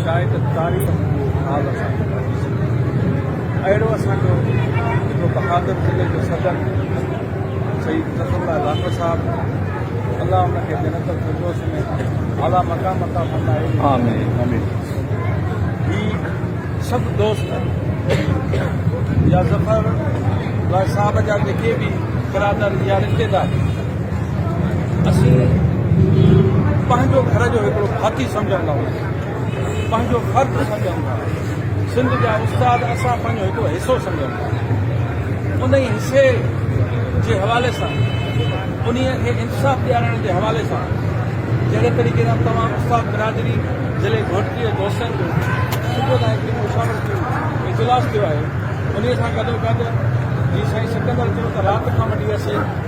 شايد تاريخ جي حال سان ئي ڀرجي سگهي ٿي. اهڙو اسان جو جيڪو بهادر ضلعي جو صدر سيد نصر الله لاکر صاحب الله ان کي جنت الفردوس ۾ اعليٰ مقام عطا فرمائي. آمين آمين. هي سڀ دوست يا ظفر لاء صاحب جا جيڪي به برادر يا رشتيدار اسين پنهنجو گهر جو هڪڙو ڀاتي سمجهڻ لاء پنهنجو فرض سمجهون ٿا سنڌ جا استاد اسان پنهنجو هڪڙو حصو سمجهون ٿا ان ئي حصي جي حوالي سان انهي کي انصاف ڏيارائڻ جي حوالي سان جهڙي طريقي سان تمام استاد برادري ضلعي گهوٽڪي دوستن جو صبح کان هڪڙي مشاورت جو اجلاس ٿيو آهي انهي سان گڏو گڏ جي سائين سڪندر چيو ته رات کان وٺي اسين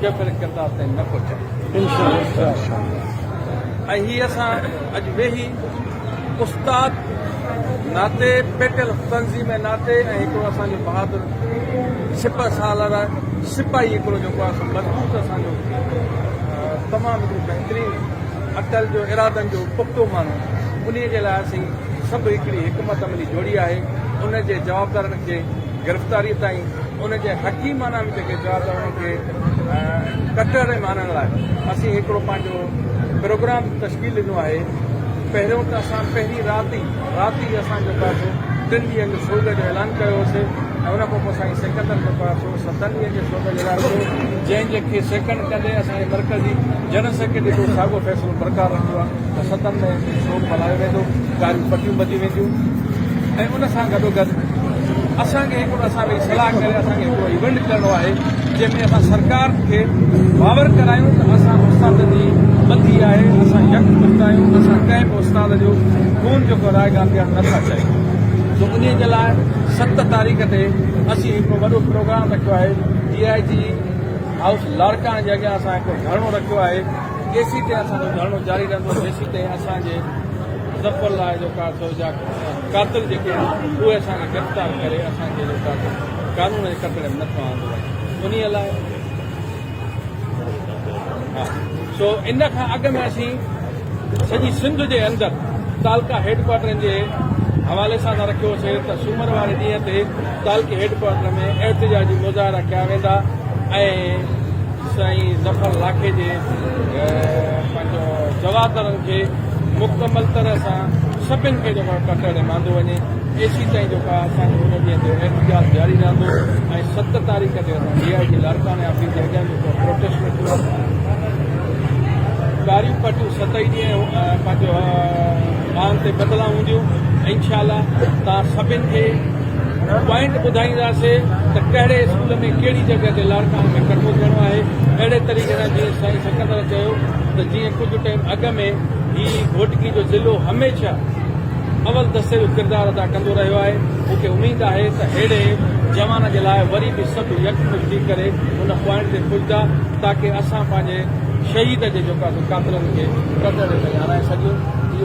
ڪيپري ڪردار تائين نه پهچائي ۽ هي اسان اڄ ويهي استاد ناتي پيٽل تنظيم ناتي ۽ هڪڙو اسان جو بهادر سپه سالار سپاهي هڪڙو جيڪو اسان مضبوط اسان جو تمام هڪڙو بهترين اٽل جو ارادن جو پختو ماڻهو انهي جي لاء اسين سڀ هڪڙي حڪمت عملي جوڙي آهي ان جي جوابدارن کي گرفتاري تائين ان جي حقيقي معنيٰ ۾ جيڪي چيا ته انهن کي ڪٽر ۽ مارڻ لاء اسين هڪڙو پنهنجو پروگرام تشڪيل ڏنو آهي پهريون ته اسان پهرين رات ئي رات ئي اسان جو پاسو ٽن ڏينهن جو سوڳ جو اعلان ڪيو هوسي ۽ ان کانپوء سائين سڪندر جو پاسو ستن ڏينهن جي سوڳ جو اعلان ڪيو جنهن جي کي سيڪنڊ ڪندي اسان جي مرڪزي جنرل سيڪريٽري به ساڳيو فيصلو برقرار رکيو آهي. دستن ۾ سوڳ ملهايو ويندو، ڳاريون پٽيون ٻڌيون وينديون ۽ ان سان گڏوگڏ اسان کي هڪڙو اسان ويهي صلاح ڪري اسان کي هڪڙو ايونٽ ڪرڻو آهي جنهن ۾ اسان سرڪار کي باور ڪرايون ته اسان استاد جي ٻڌي آهي اسان يڪ مت آهيون اسان ڪنهن به استاد جو خون جيڪو رايگان ٿيڻ نٿا چاهيون سو ان جي لاء ست تاريخ تي اسين هڪڙو وڏو پروگرام رکيو آهي ڊي آء جي هائوس لاڙڪاڻي جي اڳيان اسان هڪڙو ڌرڻو رکيو آهي جيسين تائين اسان جو ڌرڻو جاري رهندو جيسين تائين اسان جي ظفر لاء جو ڪا سو جا قاتل جيڪي آهن اهي اسان کي گرفتار ڪري اسان کي جو ڪا قانون جي ڪٽڙي ۾ نٿو آندو وڃي انهي لاء ها سو ان کان اڳ ۾ اسين سڄي سنڌ جي اندر تعلقه هيڊ ڪوارٽرن جي حوالي سان رکيو هوسي ته سومر واري ڏينهن تي تعلقي هيڊ ڪوارٽر ۾ احتجاجي مظاهرا ڪيا ويندا ۽ سائين ظفر لاکي جي پنهنجو جوابدارن کي مڪمل طرح سان سڀن کي جيڪو آهي ڪٽر ڏي ماندو وڃي ايسي تائين جيڪو آهي اسان جو هن ڏينهن جو احتجاج جاري رهندو ۽ ست تاريخ تي اسان ڊي آء جي لاڙڪاڻي آفيس جي اڳيان جيڪو پروٽيسٽ رکيو ڪاريون پٽيون ست ئي ڏينهن پنهنجو مان تي بدلان هونديون انشاء الله تان سڀن کي پوائنٽ ٻڌائينداسين ته ڪهڙي اسڪول ۾ ڪهڙي جڳهه تي لاڙڪاڻي ۾ ڪٺو ٿيڻو آهي اهڙي طريقي سان جيئن سائين سڪندر چيو ته جيئن ڪجهه ٽائيم اڳ ۾ هي گهوٽڪي جو ضلعو هميشه اول دستي جو ڪردار ادا ڪندو رهيو آهي مون کي اميد آهي ته اهڙي جوان جي لاء وري به سڀ يڪمٺ ٿي ڪري ان پوائنٽ تي پڄدا تاڪه اسان پنهنجي شهيد جي جيڪو آهي سو قاتلن کي قتل ڏينهن تائين هارائي سگهيون اهو